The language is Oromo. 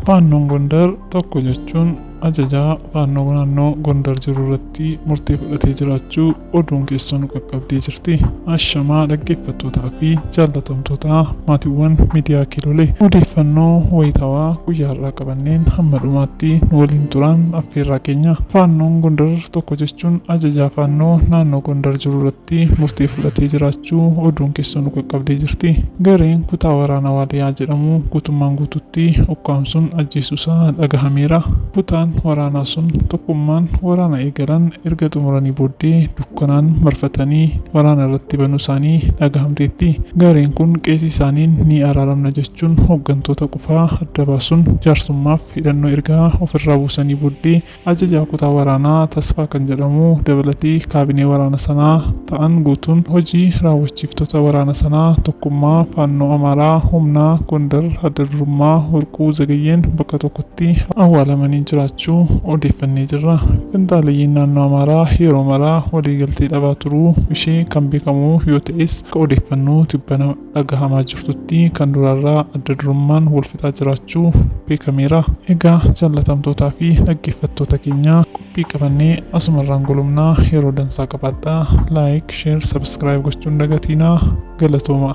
Faannoon Gondar tokko jechuun ajajaa faannoo naannoo Gondar jiru irratti murtee fudhatee jiraachuu oduun keessoo nu qaqqabdee jirti. Ashamaa dhaggeeffattootaa fi jaallatamtoota maatiiwwan miidiyaa Kilole. Odeeffannoo wayitawaa guyyaa har'aa qabanneen hamma dhumaatti nu waliin turaan affeerraa keenya. Faannoon Gondar tokko jechuun ajajaa faannoo naannoo Gondar jiru irratti. irratti murtee fudhatee jiraachuu oduun keessoo nu qaqqabdee jirti. Gareen kutaa waraana Waaliyaa jedhamu guutummaan guututti ukkaamsuun ajjeesuusaa dhagahameera. Kutaan waraanaa sun tokkummaan waraana eegalan erga xumuranii booddee dukkanaan marfatanii waraana irratti banuusaanii dhagahamteetti. Gareen kun qeesii isaaniin ni araaramna jechuun hoggantoota qofaa adda baasuun jaarsummaaf hidhannoo erga ofirraa buusanii booddee Ajajaa kutaa waraanaa Tasfaa kan jedhamu dabalatee kaabinee waraana sanaa ta'an guutuun hojii raawwachiiftota waraana sanaa Tokkummaa Faannoo Amaaraa humnaa Gondar adda durummaa Warquu Zagayyeen bakka tokkotti awwaalamanii jiraachuu odeeffannee jirra. Finxaaleyyiin naannoo Amaaraa yeroo maraa waliigaltee dhabaa turuu ishee kan beekamu yoo ta'es akka odeeffannoo tibbana dhagahamaa jirtutti kan duraarraa adda durummaan wal fixaa jiraachuu beekameera. Egaa jaallatamtootaa fi dhaggeeffattoota keenya qophii qabannee asumarraan golumnaa yeroo dansaa qabaadhaa. Like, share, subscribe gochuun dagatiinaa galatooma.